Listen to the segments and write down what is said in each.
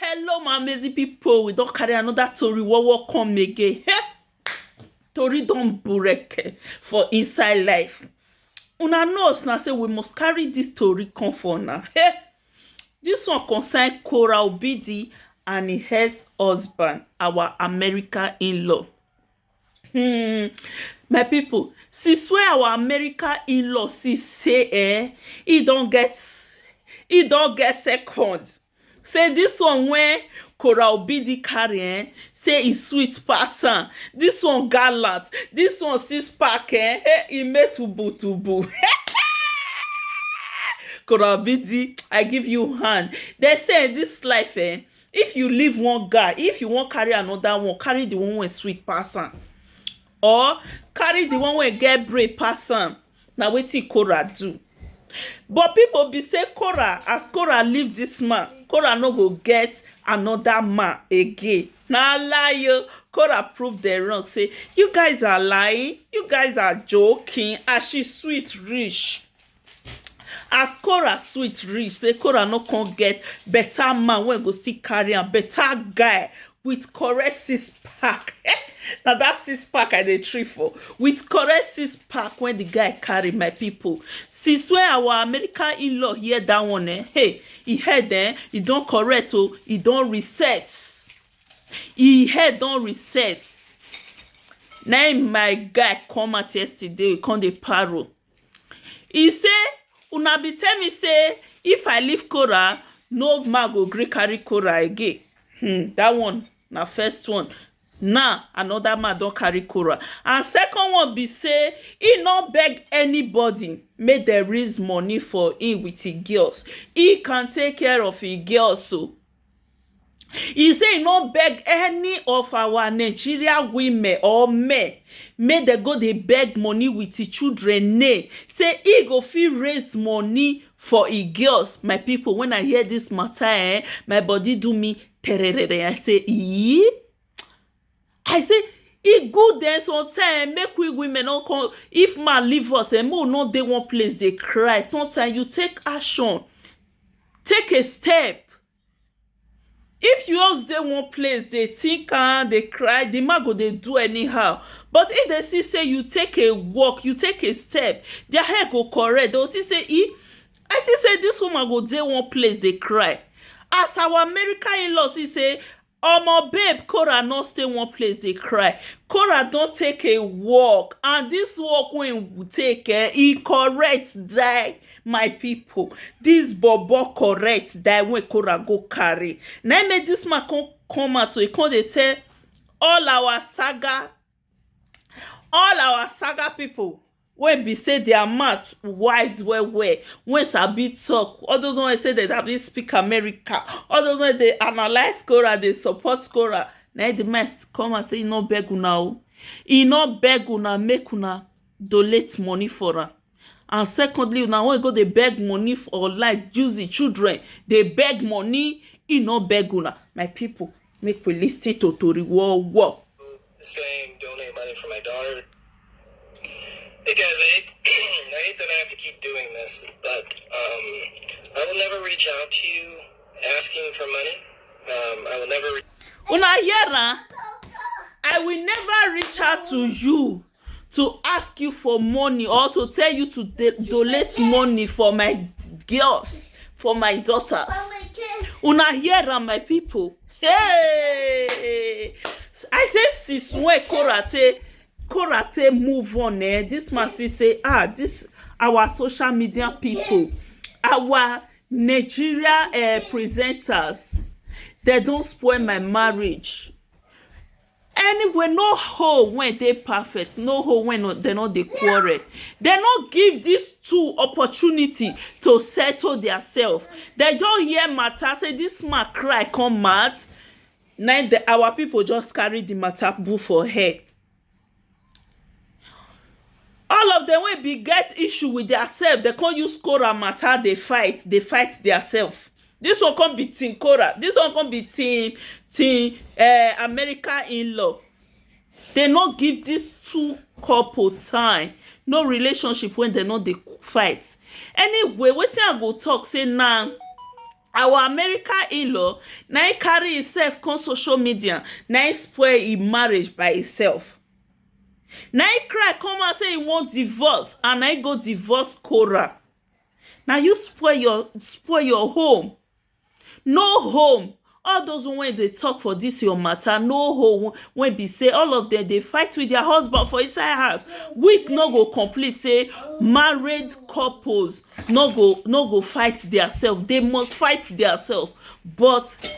Hello my amazing people, we don carry another tori wowo come again. tori don bureke for inside life. Una know na say we must carry this tori come for una. Hey, this one concern Cora Obidi and im ex-husband, our America in-law. Hmm. My people, since wey our America in-law see say eh, e don get e don get second Say this one wey Kora Obidi carry eh, say e sweet pass am. This one gallant, this one six pack eh, hey, e make tubu tubu. Kora Obidi, I give you hand. They say in this life eh, if you leave one guy, if you wan carry another one, carry the one wey sweet pass am. Or carry the one wey get brain pass am. na wetin Korah do but people be say Korah as Korah leave this man Korah no go get another man again na lie o Korah prove them wrong say you guys are lying you guys are joking as she sweet reach as Korah sweet reach say Korah no come get better man wey go still carry am better guy with correct six pack eh na that six pack i dey trip for with correct six pack when the guy carry my people since when our american in-law hear that one eh hey he head eh he don correct o oh, he don reset he head don reset na my guy come out yesterday come dey parrot E say una be tell me say if I leave Kora no man go gree carry Kora again um that one na first one now another man don carry Kora and second one be say he no beg anybody make dem raise money for him with him girls he can take care of him girls oo e say e no beg any of our Nigeria women or men make dem go dey beg money with e children name say e go fit raise money for e girls my people when I hear this matter um my body do me tererere I say eeii I say e good um sometimes um make we women no come if man leave us um make we no dey one place dey cry sometimes you take action take a step if you just dey one place dey think am dey cry the man go dey do anyhow but if dem see say you take a walk you take a step their head go correct dem go think say e I think say this woman go dey one place dey cry as our American in-law see say Omo babe Cora no stay one place dey cry Cora don take a walk and this walk wey he take eh he correct die my people this bobo correct die wey Cora go carry na him make this man come come out to come dey tell all our saga All our saga pipu wey be sey their mouth wide well well, wey sabi talk, all those one wey be sey dem sabi speak American, all those wey dey analyse quora, dey support quora na im de man come out sey e no beg una oo, e no beg una make una donate money for am. and secondly una wan go dey beg money for like use the children dey beg money he no beg una my people make we lis ten to tori wo wo. saying donate money for my daughter. Hey guys, I hate, I hate that I have to keep doing this, but um, I will never reach out to you asking for money. Um, I will never. Re- una hear am I will never reach out to you to ask you for money or to tell you to de- donate money for my girls for my daughters una hear am my people hey i say sis wey korate korate move on eh this man see say ah this our social media people our nigeria uh, presenters they don spoil my marriage Anyway no home wey dey perfect no home wey no dem no dey quarrel dem no give dis two opportunity to settle dia self dem just hear matter say dis man cry come out na im our people just carry de matter put for head all of dem wey be get issue with their self dey come use Korah matter dey fight dey fight their self this one come be team Korah this one come be team team um America inlaw dey no give this two couple time no relationship wey dey no dey fight anyway wetin I go talk say na Our American in-law na him carry himself come social media na him spoil him marriage by himself na him cry come out say he want divorce and na him go divorce Korah na you spoil your spoil your home no home all those one wey dey talk for this your matter no home wey be say all of them dey fight with their husband for inside house week no go complete say married couples no go no go fight their self they must fight their self but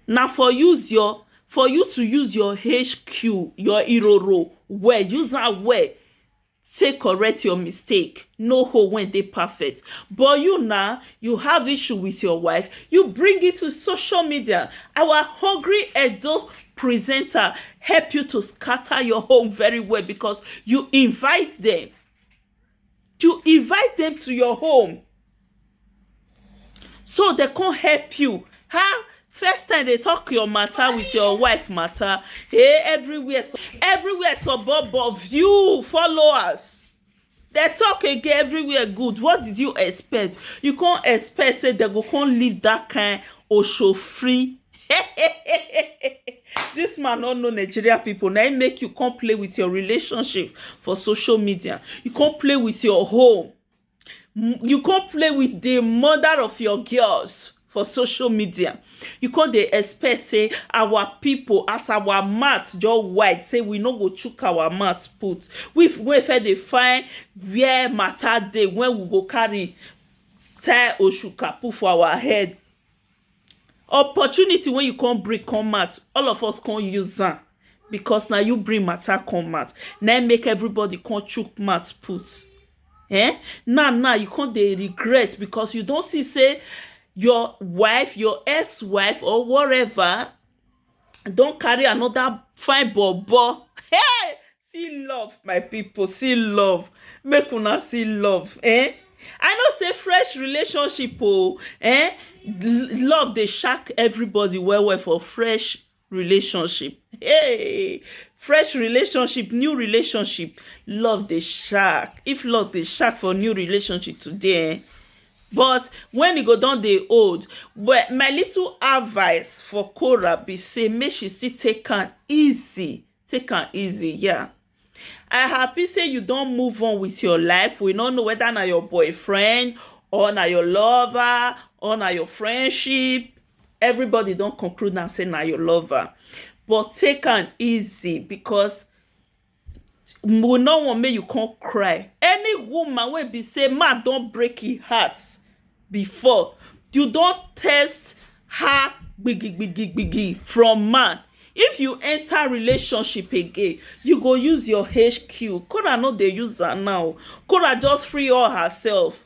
na for use your for you to use your HQ your iroro well use am well take correct your mistake no hoe wey dey perfect but you na you have issue with your wife you bring it to social media our hungry Edo presenter help you to scatter your home very well because you invite them you invite dem to your home so dem come help you how first time dey talk your matter with your wife matter hey everywhere everywhere sobobo view followers dem talk again everywhere good what did you expect you come expect say dem go come leave that kind osofri This man no know Nigeria people. Now him make you come play with your relationship for social media. You come play with your home. M- You come play with the mother of your girls for social media. You come dey expect say our people as our mouth just wide say we no go chook our mouth put. We f- we fit dey find where matter dey when we go carry tie oshukapu for our head Opportunity wey you come bring come out all of us come use am because na you bring matter come out na him make everybody come chook mouth put um now now you come dey regret because you don see sey your wife your ex wife or whatever don carry another fine bobo hey see love my people see love make una see love eh i know say fresh relationship oh eh love dey shack everybody well well for fresh relationship hey fresh relationship new relationship love dey shack if love dey shack for new relationship today eh But when e go don dey old, well, my little advice for Cora be say make she still take am easy, take am easy, yeah. I happy say you don move on with your life. We no know whether na your boyfriend or na your lover or na your friendship. Everybody don conclude am say na your lover. But take am easy because we no want make you come cry any woman wey be say man don break him heart before you don test her gbigi gbigi gbigi from man if you enter relationship again you go use your HQ Kora no dey use am now Kora just free all herself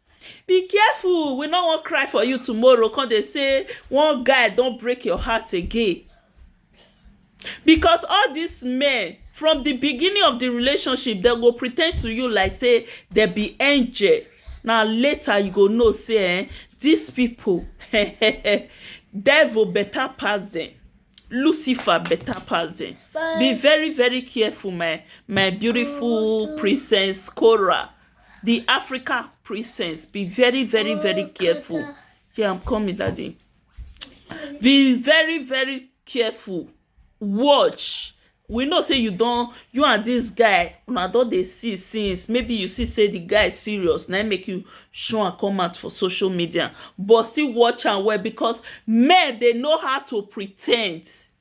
Be careful, we no wan cry for you tomorrow, come dey say one guy don break your heart again. Because all these men, from the beginning of the relationship, dem go pretend to you like say dem be angel. Na later you go know say eh, these people, devil better pass them. Lucifer better pass them. Be very, very careful, my my beautiful princess Cora. the Africa princess. Be very, very, very oh, careful. Yeah, I'm coming, daddy. Be very, very careful. Watch. We know say you don't. you and this guy una don dey see since maybe you see say the guy is serious Now make you show and come out for social media but still watch and well because men they know how to pretend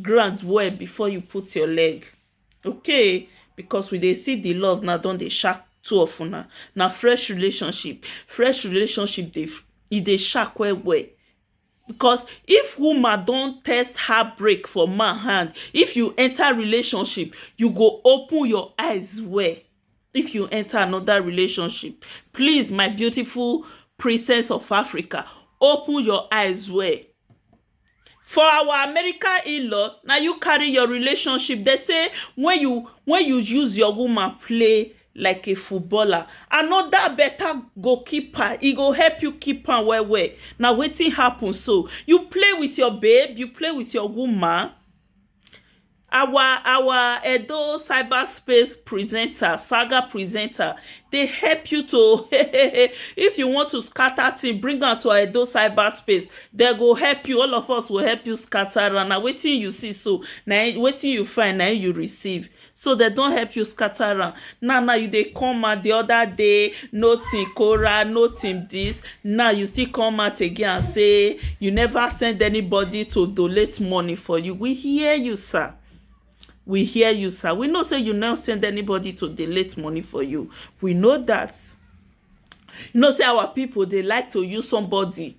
ground well before you put your leg okay because we dey see the love now don dey shark two of una na fresh relationship fresh relationship dey e dey shark well well because if woman don test her break for man hand if you enter relationship you go open your eyes well if you enter another relationship please my beautiful princess of Africa open your eyes well For our American in-law, na you carry your relationship. Dem say when you when you use your woman play like a footballer, another better goalkeeper, e go help you keep am well well. Na wetin happen so. You play with your babe, you play with your woman, Our our Edo cyber space presenter, saga presenter, dey help you to if you want to scatter thing, bring am to Edo cyber space. They go help you, all of us will help you scatter am. Na wetin you see so, na wetin you find, na you receive. So they don help you scatter am. Now now you dey come out the other day, no team Kora, no team this. Now you still come out again and say you never send anybody to donate money for you. We hear you, sir. We hear you, sir. We know say you never send anybody to donate money for you. We know that. You know say our people they like to use somebody